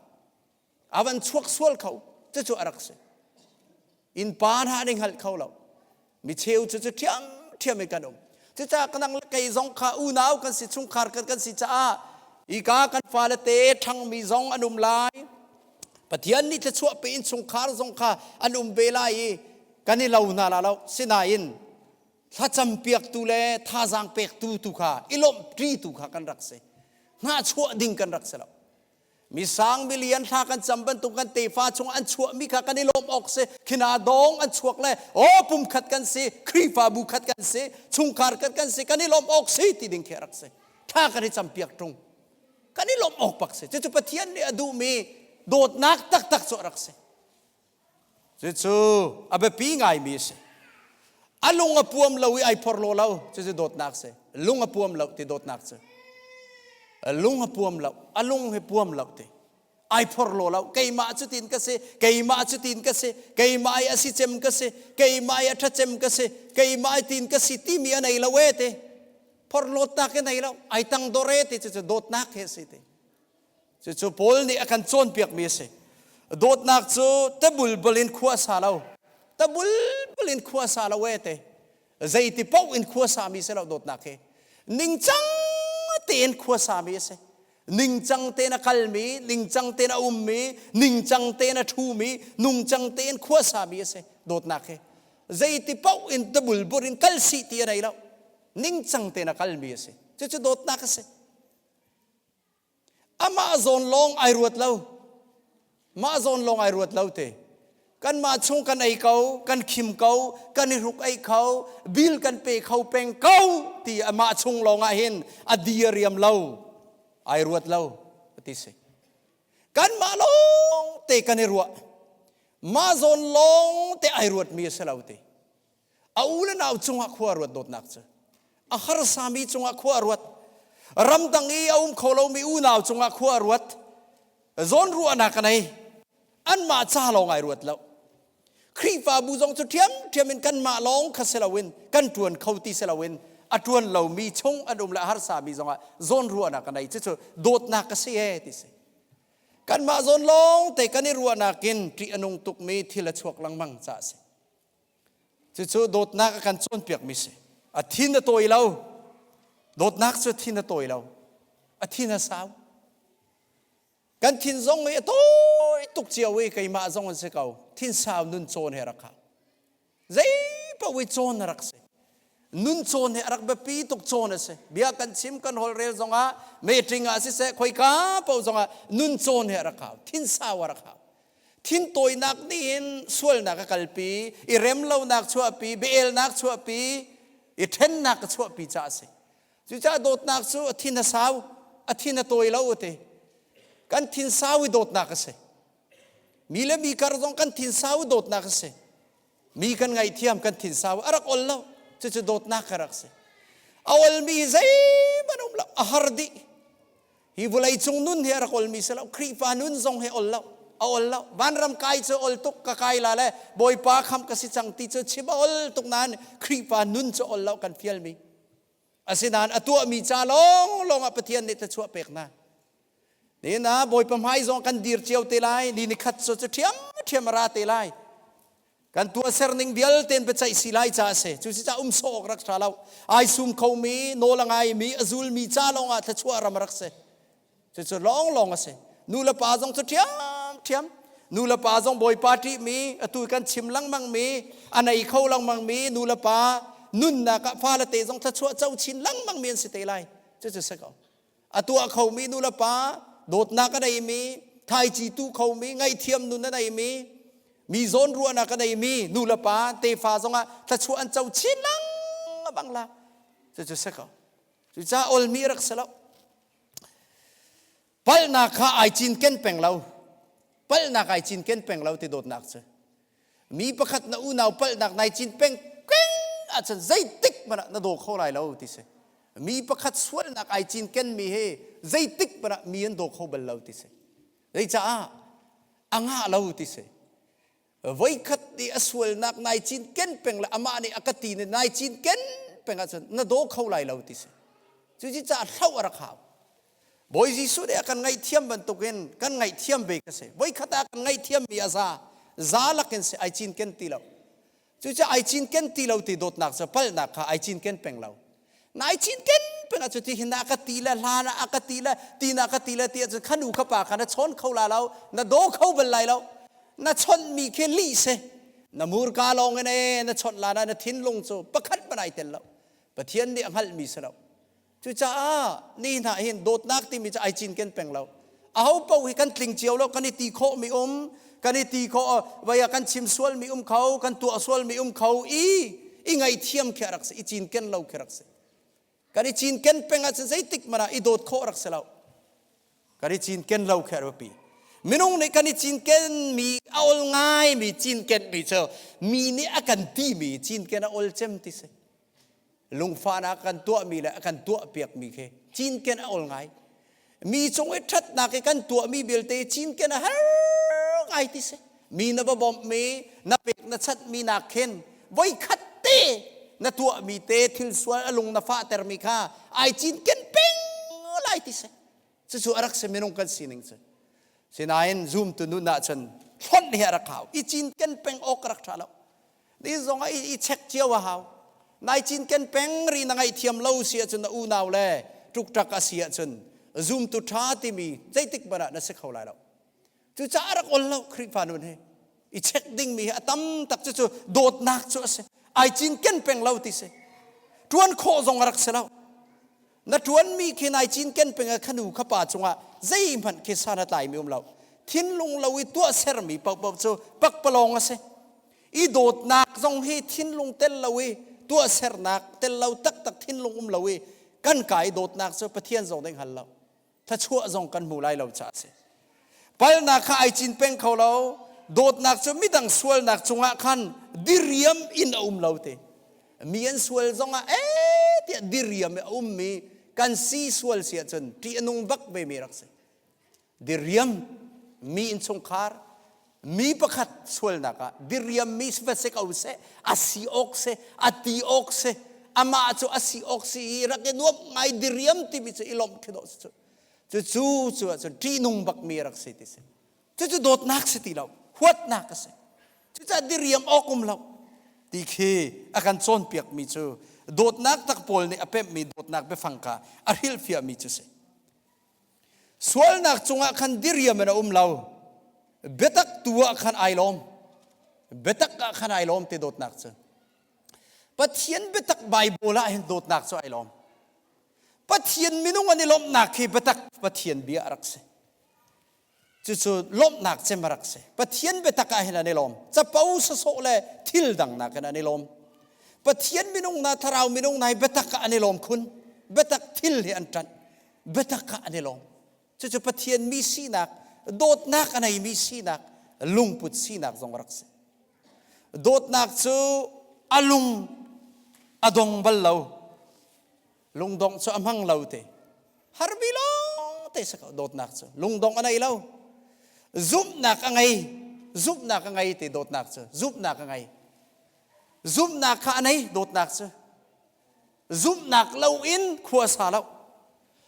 a van chuak sual kho cucu a rak si innpa hna nih hngalh kho lo mi cheu cu cu ṭhiam ṭhiam in kan um cucah kanang kei zong kha unau kan si chungkhar kan kan si caah ika kan fale te ṭhangmi zong an um lai pathian nih thluachuahpe in chungkhar zong kha an um ve lai i kan i lo hna la lo sinain thlacam piaktu le thazaang pektu tu kha i lawmhṭi tu kha kan rak si hnahchuah ding kan rak si lo mi sang milian thla kan cam bantuk kan tefa chung an chuah mi kha kan i lawm awk si khina dong an chuak le o pum khat kan si khrifabu khat kan si chungkhar khat kan si kan i lawm awk si ti ding khi rak si tha kan i cam piak ṭung kan i lawm awk pak si cucu pathian nih a duhmi dawtnak taktak cu rak si Cucu a biapi ngaimi a si. A lung a puam lo i ai phor law lo. Cucu dawtnak si. Lung a puam lo ti dawtnak si. Lung a puam lo. A lung hi puam lo ti. Ai phor law lo. Keimah cu tin ka si. Keimah cu tin ka si. Keimah i a si cem ka si. Keimah i a ṭha cem ka si. Keimah i tin ka si timi a nei lo e ti. Phor law tak i nei lo. Ai tang dor e ti. Cucu dawtnak hi a si ti. Cucu Paul nih a kan cawnpiakmi a si. Dawtnak cu tabulbal in khua a sa lo. Tabulbal in khua a sa lo e te. Zeiti paoh in khua sami si lo dawtnak hi. Ningcang tein khua sami a si. Ningcang tein a kalmi, ningcang tein a ummi, ningcang tein a ṭhumi, nungcang tein khua sami a si dawtnak hi. Zeiti paoh in tabulbul in kal sih ti a nei lo. Ningcang tein a kalmi a si. Cucu dawtnak a si. Amah zawn lawng ai ruat lo. Mah zawn lawng ai ruat lo te. Kanmah chung kan ei ko, kan khim ko, kan i hruk ei kho, bil kan pe kho peng ko ti amah chung lawng ah hin a diariam lo. Ai ruat lo ti si. Kanmah lawng te kan i ruah. Mah zawn lawng te ai ruat mi a si lo ti. A u le nau cungah khua ruat dawtnak cu a harsami cungah khua ruat. Ramdang i a um kho lomi unau cungah khua ruat. Zawnruahnak nei. Anmah ca lawng ai ruat lo. Khrihfabu zong cu ṭhiamṭhiam in kanmah lawng kha si loin kan ṭuan kho ti si loin a ṭuan lomi chung an um le a harsami zongah zawnruahnak a nei. Cucu dawtnak ka si ee ti si. Kanmah zawn lawngte kan i ruahnak in ṭih a nung tukmi thil a chuak lengmang ca a si. Cucu dawtnak a kan cawnpiakmi si. A thin a tawi lo. Dawtnak cu a thin a tawi lo. A thin a sau. Kan thin zong hi a tawi tuk cio i keimah zong an si ko. Thin sau nun cawn he rak hau. Zei paoh i cawn a rak si. nun cawn hi a rak biapi tuk cawn a si bia kan chim kan holhrel zong ah meetling ah siseh khoika paoh zong ah nun cawn hi a rak hau thinsau a rak hau thin tawinak nih hin sualnak a kalpi i remlonak chuahpi beelnak chuahpi i ṭhennak ka chuahpi caah a si cucaah dawtnak cu a thin a sau a thin a tawi lo a ti kan thin sau i dawtnak a si mi le mi kar zong kan thin sau i dawtnak a si mi kan ngaihthiam kan thin sau a rak ol lo cucu dawtnak ka rak si a olmi zeihmanh um lo a har dih hi vawlei cung nun hi a rak olmi si lo khrihfa nun zong hi ol lo a ol lo vanram kai cu ol tuk ka kai la le bawipa kham ka si cang ti cu chim a ol tuk nain khrihfa nun cu ol lo kan fial mi Asinain a tuahmi ca lawnglawng ah Pathian nih thluachuah pek hna. Nihin ah Bawipa hmai zong kan dir cio te lai. Ni ni khat cu ṭhiamṭhiam a ra te lai. Kan tuahser ning vialte in biaceih si lai ca a si. Cu si um sawh awk rak ṭha lo. Ai sum khomi, nawl a ngaimi, a zulmi ca lawng ah thluachuah ram rak si. Cucu lawnglawng a si. Nulepa zong cu ṭhiamṭhiam. Nulepa zong Bawipa ṭihmi, atu kan chim lengmangmi, a nei kho lengmangmi nulepa nunnak ah fale te zong thluachuah co chin lengmangmi an si te lai. Cucu si ko. A tuah khomi nulepa, dawtnak a neimi, thaici tu khomi, ngaihthiam nun a neimi, mi zawnruahnak a neimi nulepa tefa zong ah thluachuah an co chin lengmang la. Cucu si ko. Cucaah olmi rak si lo. Palhnak kha ai cinken peng lo. Palhnak ai cinken peng lo ti dawtnak cu. Mi pakhat na unau palhnak nai cin peng keng ahcun zeitik hmanh ah na daw kho lai lo ti si. Mi pakhat sualnak ai cinkenmi he zeitik hmanh ah mi an daw kho bal lo ti si. Zeicaah? A ngah lo ti si. voikhat te a sualnak nai cinken peng le amah nih a ka ti ne nai cinken peng ahcun na daw kho lai lo ti si cu ci ca hlo a rak hau Bawi Jesuh nih a kan ngaihthiam bantukin kan ngaihthiam ve ka si voikhat ah kan ngaihthiam mi a za za lakin si ai cinken ti lo cucaah ai cinken ti lo ti dawtnak cu palhnak kha ai cinken peng lo Nai chin ten pengah cu ti hin a ka ti le hlan ah a ka ti le tin a ka ti le ti ahcun kha nu kha pa kha na chawn kho la lo na daw kho bal lai lo na chawnh mi khi li se na murka lawng in e na chawnh la na na thinlung cu pakhat man ai tel lo pathian nih a hngalh mi si lo cucaah ni hna hin dawtnak timi cu ai cin ken peng lo aho paoh hi kan tling cio lo kan i ti khawh mi um kan i ti khawh vai ah kan chim sual mi um kho kan tuah sual mi um kho i i ngaithiam khi rak si i cinken lo khi rak si kan i cinken peng ah cun zeitik mana i dawt khawh rak si lo kan i cinken lo khi pi minung nih kan i cinken mi a ol ngai mi cinken mi cu mi nih a kan ti mi cinken a ol cem ti si lungfahnak kan tuahmi le kan tuahpiakmi khi cinken a ol ngai mi cung i ṭhatnak i kan tuahmi vialte cinken a har ngai ti si mi na va bawmhmi na pek na chatmi nak khin voikhat te na tuahmi te thil sual a lung na fahtermi kha ai cinken peng lai ti si cucu a rak si minung kan sining cu sinain zumtu nun ah cun thlon hi a rak hau i cinken peng awk rak ṭha lo Ni zong ah i check cio a hau. Nai cinken peng ri na ngaih thiam lo si ahcun na unau le ṭukṭak a si ahcun zumtu ṭha timi zeitik hmanh ah na si kho lai lo. Cucaah rak ol lo Khrihfa nun hi. I check dingmi hi a tam tak cucu dawtnak cu a si. Ai cinken peng lo ti si. Ṭuan khawh zong a rak si lo. na ṭuanmi khi nai cinken peng ah khanu kha pa cungah zeihmanh khi san a tlaimi um lo thinlung lo i tuah sermi paohpaoh cu pakpalawng a si i dawtnak zong hi thinlung tel lo i tuahsernak tel lo taktak thinlung um lo i kan ka i dawtnak cu pathian zong nih hngal lo Thluachuah zong kan hmu lai lo caah a si. Palnak kha ai cin peng kho lo. Dawtnak cu midang sualnak cungah khan diriam in a um lo te. Mi an sual zongah eh tiah diriam i a ummi kan si sual si ahcun ṭih a nung bak vemi rak si. Diriam, mi innchungkhar, mi pakhat sualnak ah diriammi va se ko seh a si awk seh a ti awk seh amah cu a si awk si i rak i nuamh ngai diriam timi cu i lawmh khi dawh cu cu cu ahcun ṭihnung bakmi rak si ti si cucu dawtnak si ti lo huatnak a si cucah diriam awk um lo ti khi a kan cawnpiakmi cu dawtnak tak pawl nih a pemhmi dawtnak biafang kha a hrilhfiahmi cu si sualnak cungah khan diriam in a um lo biatak tu ah khan ai lawm biatak ah khan ai lawm te dawtnak cu pathian biatak bible ah hin dawtnak cu ai lawm pathian minung an i lawmhnak khi biatak pathian bia a rak si cucu lawmhnak cem a rak si pathian biatak ah hin an i lawm capo sasawh le thil dang nakin an i lawm pathian minung hna thlarau minung hna hi biatak ah an i lawm khun biatak thil hi an ṭanh biatak ah an i lawm cucu pathian mi sinak dawtnak a neimi sinak lungput sinak zong a rak si dawtnak cu a lung a dong bal lo lungdongh cu a hmang lo te harmi lawng te si ko dawtnak cu lungdongh a nei lo zumhnak a ngei zumhnak a ngei te dawtnak cu zumhnak a ngei zumhnak kha a nei dawtnak cu zumhnak lo in khua sa lo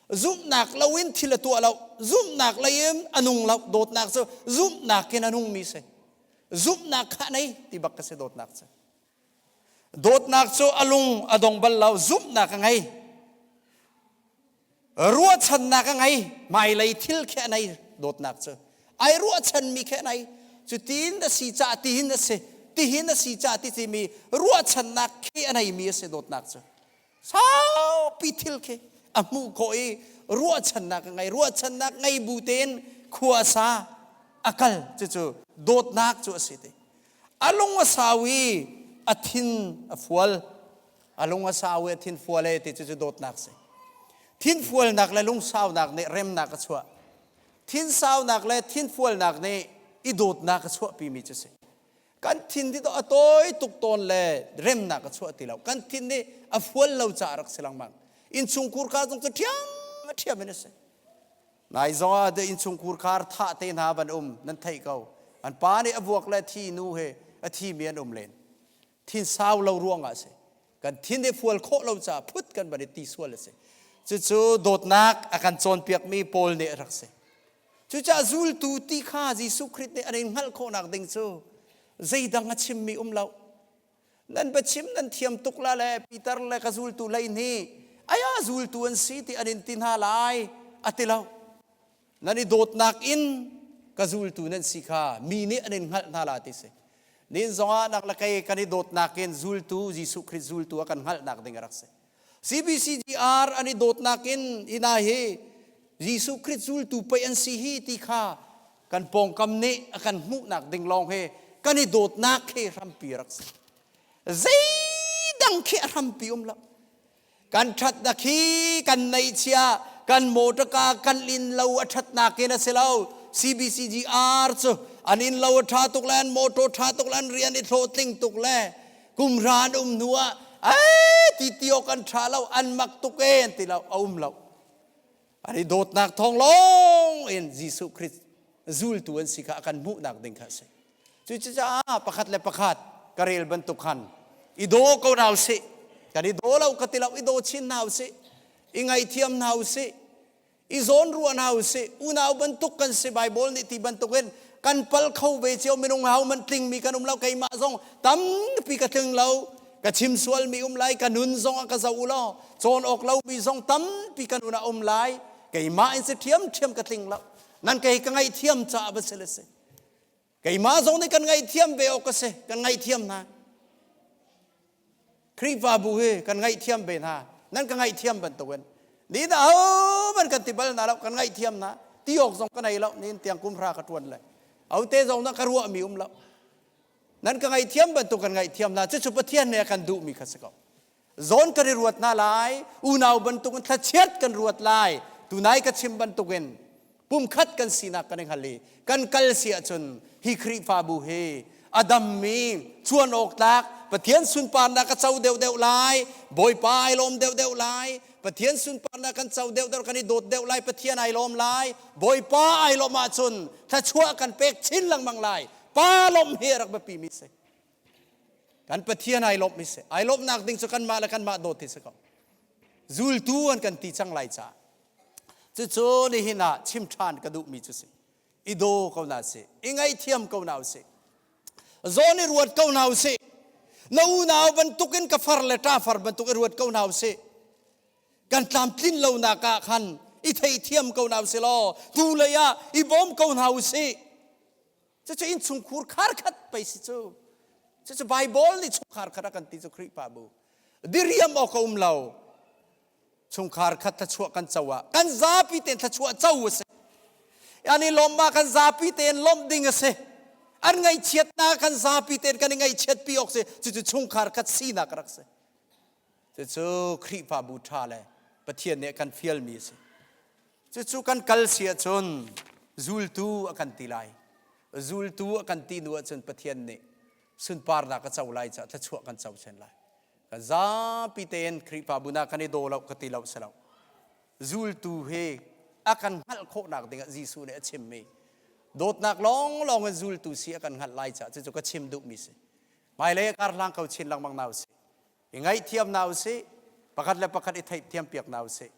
zumhnak lo in thil a tuah lo zumhnak lei in a nung lo dawtnak cu zumhnak in a nungmi si zumhnak kha nei ti bak ka si dawtnak cu Dawtnak cu a lung a dong bal lo zumhnak a ngei ruahchannak a ngei hmailei thil khi a nei dawtnak cu ai ruahchanmi khi a nei cu tiin a si cah tihin a si tihin a si cah ti timi ruahchannak khi a neimi a si dawtnak cu saupi thil khi a hmuh khawh i ruahchannak a ngei ruahchannak ngei bu tein khuasa a kal cucu dawtnak cu a si ti a lung a sau i a thin a fual a lung a sau i a thin fual e ti cucu dawtnak si thin fualnak le lungsaunak nih remnak a chuah thin saunak le thin fualnak nih i dawtnak a chuahpimi cu si kan thin ti to a tawi tuk tawn le remnak a chuah ti lo kan thin nih a fual lo caah rak si lengmang innchungkhur kha zong ka ṭhiam ṭhiam in a si nai zong ah de innchungkhur khar thah te hna van um nan theih ko an pa nih a vuak le thi nu he a thimi an um len thin sau lo ruang ah a si kan thin i fual khawh lo caah phut kan van i ti sual a si cucu dawtnak a kan cawnpiakmi paul nih rak si Cucah zultu ti kha Jesuh Khrih nih an in hngalh khawhnak ding cu zeidang a chimmi um lo. Nan va chim nan thiam tuk la le Peter le ka zultu lei nih aya zultu an si ti an in ti hna lai a ti lo. Nan i dawtnak in ka zultu nan si kha mi nih an in hngalh hna la ti si. Nin zongah nak le kei kan i dawtnak in zultu Jesuh Khrih zultu a kan hngalhnak ding a rak si. CBCGR an i dawtnak in hi hna hi Jesuh Khrih zultu pei an si hi ti kha kan pawngkam nih a kan hmuhnak ding lawng hi kan i dawtnak khi hrampi rak si. Zeidang khi a hrampi um lo. Kan ṭhatnak hi kan neihchia, kan motor car kan lin lo a ṭhatnak in a si lo. CBCGR cu an in lo a ṭha tuk le an motor ṭha tuk le an rian i hlawhtling tuk le kumhra an um hnu ah ee ti ti awk an ṭha lo an mak tuk ee an ti lo a um lo ar i dawtnak thawng lawng in Jesuh Christ zultu an si kha a kan hmuhnak ding kha a si cucaah pakhat le pakhat ka rel bantuk khan i daw ko hna usih kan i daw lo ka ti lo i daw chin hna usih i ngaithiam hna usih i zawn ruah hna u sih unau bantuk kan si bible nih ti bantukin kan pal kho ve cio minung hau man tlingmi kan um lo keimah zong tampi ka tling lo ka chim sual mi um lai ka nun zong a ka zo u law cawn awk lo mi zong tampi kan una um lai keimah in si thiam thiam ka tling lo nan kei ka ngaih thiam caah va si le si keimah zong nih kan ngaihthiam ve awk ka si kan ngaihthiam hna Khrihfabu hi kan ngaihthiam ve hna nan ka ngaihthiam bantukin ni da homan kan ti bal hna lo kan ngaihthiam hna ti awk zong ka nei lo nin tiang kumhra ka tuan le aute zong nan ka ruah mi um lo nan ka ngaithiam bantuk kan ngaithiam na cucu pathian ne kan duh mi kha si ko zawn kan i ruat hna lai unau bantuk in thlachiat kan ruat lai tunai ka chim bantukin pumkhat kan sinak kan i hngal i kan kal si ahcun hi khrihfabu hi a dammi chuan awk tlak pathian sunparnak ka co deuhdeuh lai bawipa ai lawm deuhdeuh lai pathian sunparnak kan co deuhdeuh kan i dawt deuh lai pathian ai lawm lai bawipa ai lawm ahcun thlachuah kan pek chin lengmang lai pa lawmh hi a rak biapimi si kan pathian ai lawmh mi si ai lawmhnak ding cu kanmah le kanmah dawt hi si ko zultu an kan ti cang lai caah cucu nihin ah chim ṭhan ka duh mi cu si i daw ko na si i ngaihthiam ko na si zawn i ruat ko na si na unau bantukin ka far le ṭa far bantuk i ruat ko na si kan tlamtlin lo nak ah khan i theithiam ko na si law tu lei ah i bawm ko na si Cucu innchungkhur kharkhat pei si cu. Cucu Baibal nih chungkhar khat a kan ti cu Khrihfa bu. Diriam awk a um lo. Chungkhar khat thluachuah kan co ah kan zapi tein thluachuah co a si. Yani lawmhma kan zapi tein lawmh ding a si. An ngaihchiatnak kan zapi tein kan i ngaihchiat pi awk si. Cucu chungkhar khat sinak rak si. Cucu Khrihfabu ṭha le Pathian nih kan fialmi a si. Cucu kan kal si ahcun zultu a kan ti lai. Zultu a kan ti hnu ahcun Pathian nih sunparnak a co lai caah thluachuah kan co sen lai. Kan zapi tein Khrihfabu na kan i daw lo ka ti lo si lo. Zultu he a kan hngalh khawhnak dingah Jesuh nih a chimmi dawtnak lawnglawng in zultu si a kan hngalh lai caah cucu ka chim duhmi si. Hmailei karhlang ko chin lengmang na u si. i ngaihthiam hna u sih pakhat le pakhat i theihthiam piak hna u sih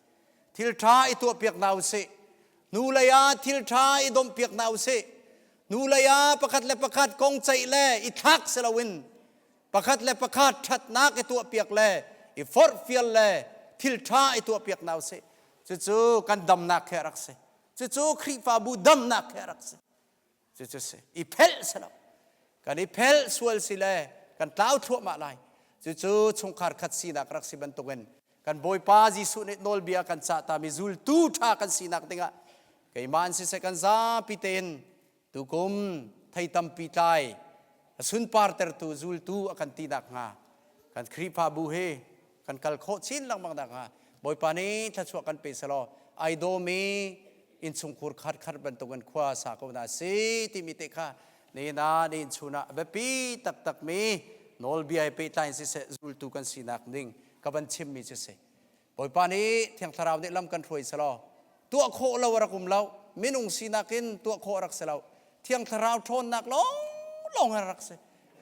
thil ṭha i tuah piak hna u sih nu lei ah thil ṭha i domh piak hna u sih nu lei ah pakhat le pakhat kong ceih le i thlak si loin pakhat le pakhat ṭhatnak i tuah piak le i forhfial le thil ṭha i tuah piak hna u sih cucu kan damnak he rak si cucu Khrihfabu damnak he rak si Cucu si. I phelh si lo. Kan i phelh sual si le kan tlau thluahmah lai. Cucu chungkhar khat sinak rak si bantukin kan Bawipa Jesuh nih nawlbia kan cah tami zultu ṭha kan sinak dingah keimah in siseh kan zapi tein tukum thei tampi tlai sunpartertu zultu a kan ti nakhnga kan Khrihfabu hi kan kal khawh chin lengmang nakhnga Bawipa nih thluachuah kan pe selaw ai dawmi innchungkhur khatkhat bantukin khua sa ko hna si timi te kha nihin ah nihin chun ah a biapi taktakmi nawlbia he pehtlai in siseh zultu kan sinak ding ka van chimmi cu si Bawipa nih thiang thlarau nih lam kan hruai selaw tuah khawh lo a rak um lo minung sinak in tuah khawh a rak si lo thiang thlarau ṭhawnnak lawng lawng a rak si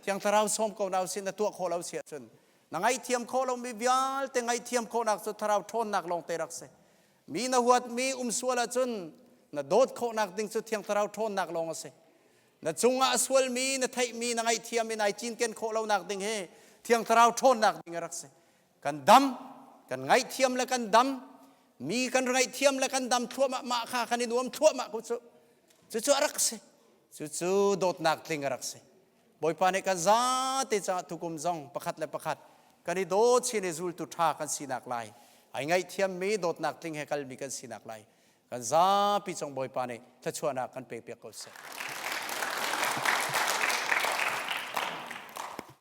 thiang thlarau sawm ko na si na tuah khawh lo si ahcun na ngaihthiam khawh lomi vialte ngaihthiam khawhnak cu thlarau ṭhawnnak lawngte rak si mi na huatmi umsual ahcun na dawt khawhnak ding cu thiang thlarau ṭhawnnak lawng a si na cungah a sualmi na theihmi na ngaihthiam in ai cinken khawh lonak ding hi thiang thlarau ṭhawnnak ding a rak si kan dam kan ngaihthiam le kan dam mi kan ngaihthiam le kan dam thluahmah mah kha kan i nuam thluahmah ko cu cucu a rak si cucu dawtnak tling a rak si Bawipa nih kan zate caah tukum zong pakhat le pakhat kan i daw chin i zultu ṭha kan sinak lai, ai ngaihthiammi dawtnak tling he kalmi kan sinak lai, kan zapi cong Bawipa nih thluachuahnak kan pekpiak ko seh.